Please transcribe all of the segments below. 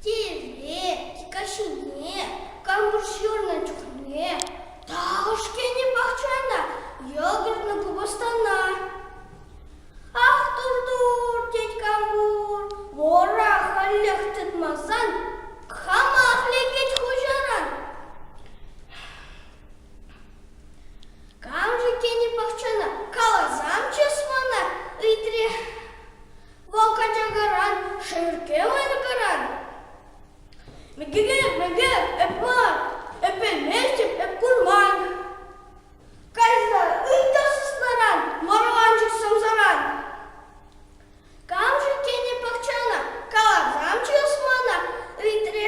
Тееве, Кикаҫуне, Кантур ҫырнӑ чухне Ташкентӗн пахчана ятӑрнӑ купӑстана. Ах, тур-тур, тет Кантур, вора халех тытмасан, хамах лекет хуҫаран. Кам-ши тени пахчана каласан чыс мана ыйтрӗ вӑл качакаран, шеркке ларкӑран. Мӗкӗре, мӗкӗ, эпла, эпӗлместӗп, эп курман. Кайса ый та сыснаран, мӑрланчӑк сӑмсаран. Кам-ши тени пахчана каласан чыс мана ыйтрӗ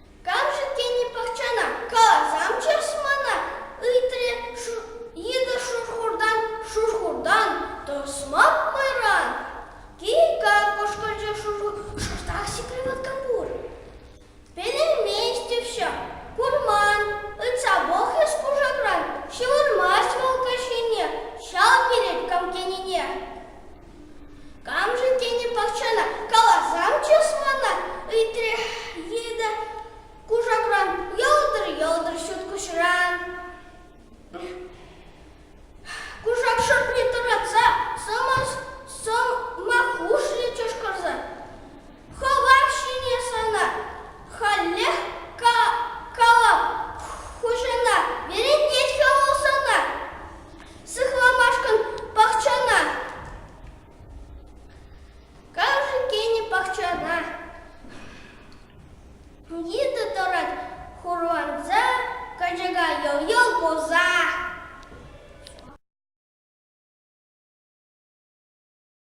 Камшӑн тени пахчана касамччӑр-с мана? ыйтрӗ икӗ шурхуртан шурхуртан тӑсмак майран. Кика! кӑшкӑрчӗ шӑртах сикрӗ латкапур. Пӗлейместӗпччӗ, курман, ыйтса пӑх эс кушакран, ҫывӑрмасть вӑл каҫхине ҫав переккам тенине. Камшӑн тенӗ пахчана каласам чыс мана, ыйтрӗ Лида кушакран, йӑлтӑр-йӑлтӑр ҫут куҫран. Кушак шӑртне тӑратса сӑмаххушрӗ чӑшкӑрса. Хыпар ҫине сана халех калам, хуҫана вӗрентет-ха вӑл сана, сыхламашкӑн пахчана. Камшӑн тенӗ пахчана? Йытӑ тӑрать хурланса, качака йӑл-йӑл курса.